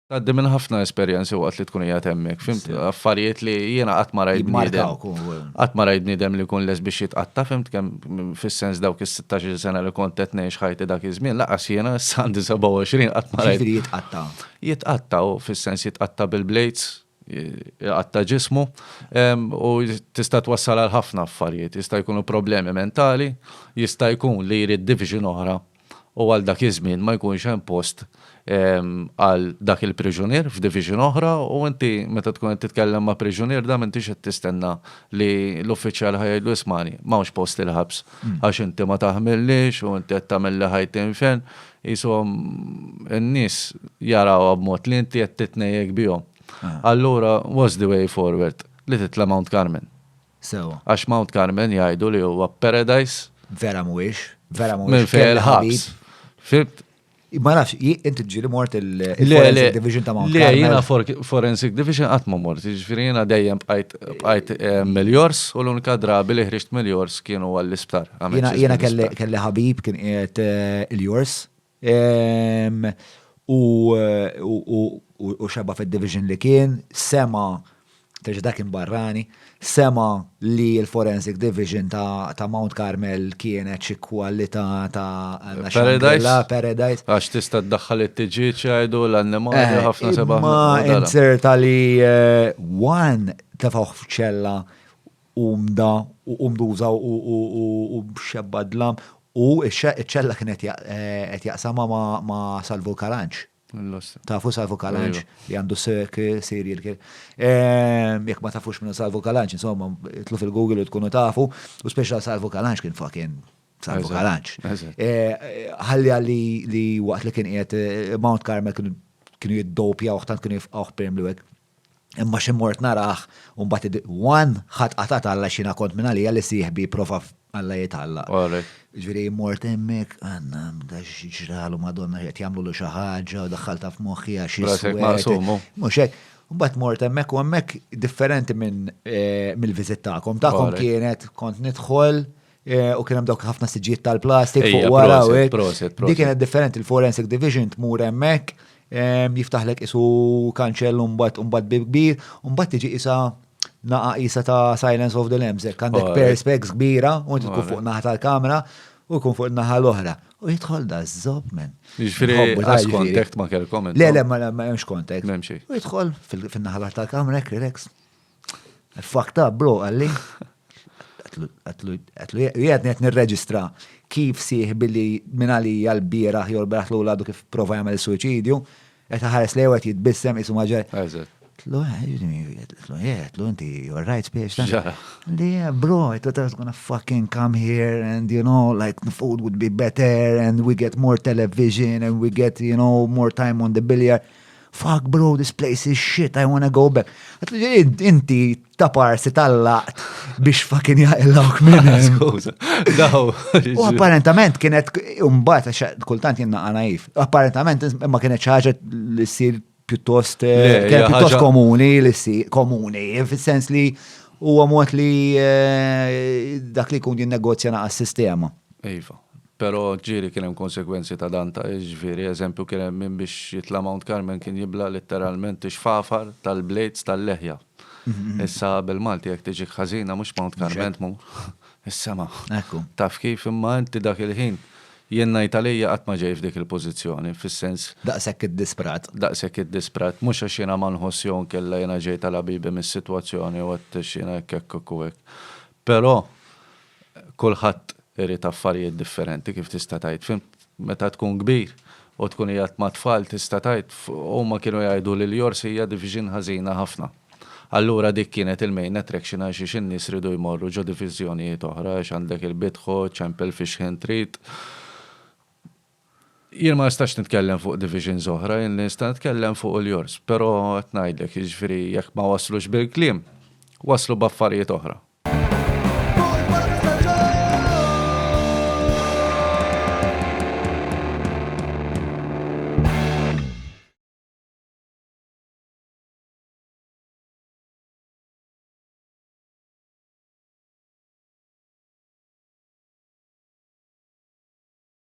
Tgħaddi minn ħafna esperjenzi waqt li tkun qiegħed hemmhekk, fimt affarijiet li jiena qatt ma rajt bniedem. Qatt ma rajt bniedem li jkun les biex jitqatta' fimt kemm fis-sens dawk is-16 sena li kont qed ngħix ħajti dak iż-żmien laqas jiena issa għandi 27 qatt ma rajt. Jitqatta'. Jitqatta' u fis-sens jitqatta' bil-blades, jitqatta' ġismu u tista' twassal għal ħafna affarijiet. Jista' jkunu problemi mentali, jista' jkun li jrid division oħra u għal dak iż-żmien ma jkunx hemm post għal dak il-priġunier f'division oħra u inti meta tkun qed titkellem ma' priġunier da m'intix qed tistenna li l-uffiċjal ħa jgħidlu ismagħni m'hawnx post il-ħabs għax inti ma taħmillix u inti qed tagħmilli ħajti infern. Qishom in-nies jarawha b'mod li inti qed titnejjek bihom. Allura what's the way forward? Li titla' Mount Carmel. Sewwa. Għax Mount Carmel jgħidu li huwa paradise. Vera mhuwiex. Vera mhuwiex. Minn fejn il-ħabs. Fimt? Ma nafx, inti ġili mort il-Forensic Division ta' Mount Carmel. Le, jena Forensic Division qatt ma mort, ġifieri jiena dejjem bqajt eh, miljors u l-unika drabi li ħriġt miljors kienu għall-isptar. Jiena kelli ħabib kien qiegħed eh, il-jors U xebgħa fid-division li kien, sema', terġa' dak kien barrani, sema' li l-forensic division ta' Mount Carmel kienet xi kwalità ta' Paradise. Paradise. Għax tista' ddaħħal it-tiġieġ jgħidu l-annimali ħafna sebgħa. Ma inzerta li one tefgħuh f'ċella Qum da, u qum duża u xebba dlam. U ċ-ċella kien qed jaqsamha ma' Salvu Kalanġ. Tafu Salvu Kalanġ li għandu serial kien. Jekk ma tafux minnu Salvu Kalanġ, insomma, tlu fil-Google u tkunu tafu, u speċa Salvu Kalanġ kien fucking Salvu Kalanġ. Ħalli għalli li waqt li kien qiegħed Mount Carmel kienu jiddopja uħtant kienu jifqawh perm li wek. Imma xi mort narah u mbagħad one ħadd qatat Alla xina kont minn għalija li sieħbi prova Alla jitalla. Ġifieri mort hemmhekk għandna da ġralu Madonna qed jagħmlu xi ħaġa u daħħalta f'moħħi għax Mhux hekk. Mbagħad mort hemmhekk u hemmhekk differenti eh, mill-viżit tagħkom. Tagħkom kienet kont nidħol Eh, u kien hemm dawk ħafna siġijiet tal-plastik fuq wara u hekk. Dik kienet differenti l-Forensic Division tmur hemmhekk jiftaħlek isu kanċell mbagħad mbagħad bib kbir, mbagħad tiġi isa naqa isa ta' Silence of the Lambs, hekk għandek perspex kbira u inti tkun fuq naħa tal-kamera u jkun fuq naħa l-oħra. U jidħol da zob men. Ġifiri, għas kontakt ma kelkom. Le, le, ma hemmx kontakt. U jidħol fil-naħa tal-kamera, relax. Fucked up, bro, għalli. Għatlu, jgħadni għet nirreġistra kif siħ billi minn għalija l-biraħ jol biraħ l għadu kif prova jgħamil suicidju, għet ħares li għet jitbissem jisu maġer. Tlu, tlu, tlu, inti, you're right, spiex. Yeah, bro, it was gonna fucking come here and, you know, like, the food would be better and we get more television and we get, you know, more time on the billiard. Fuck bro, this place is shit, I wanna go back. Inti ta' parsi tal-laqt biex fucking jaqillawk minn U apparentament kienet umbat, kultant jenna għanajf, apparentament ma kienet ċaġa li s-sir pjuttost eh, pjuttost komuni li s-sir komuni, fil-sens li u għamot li eh, dak li kun din negozja naqas sistema. Iva. Pero ġieli kien hemm konsegwenzi ta' dan ta' ġifieri eżempju kien hemm min biex jitla' Mount Carmel kien jibla' litteralment ix-xfafar tal-blades tal-leħja. Issa bil-Malti jekk tiġik ħażina mhux Mount Carmel tmur is-sema. Taf kif imma inti dak il-ħin jien ngħid għalija qatt ma ġej f'dik il-pożizzjoni fis-sens. Daqshekk iddisprat. Daqshekk iddisprat. Mhux għax jiena ma nħoss jew inkella jiena ġejt għal ħabibi mis-sitwazzjoni u għedt għax jiena hekk hekk hekk u hekk. Però kulħadd irid affarijiet differenti kif tista' tgħid, fimt? Meta tkun kbir u tkun qiegħed mat-tfal tista' tgħid, huma kienu jgħidu li l-jors hija division ħażina ħafna. Allura dik kienet il-main attraction għal xiex in-nies riedu jmorru ġo diviżjonijiet oħra għax għandek il-bidħu, ċempel fix-xħin trid. Jien ma nistax nitkellem fuq divisions oħra, jien li nista' nitkellem fuq hu l-jors, però qed ngħidlek, jiġifieri jekk ma waslux bil-kliem, waslu b'affarijiet oħra.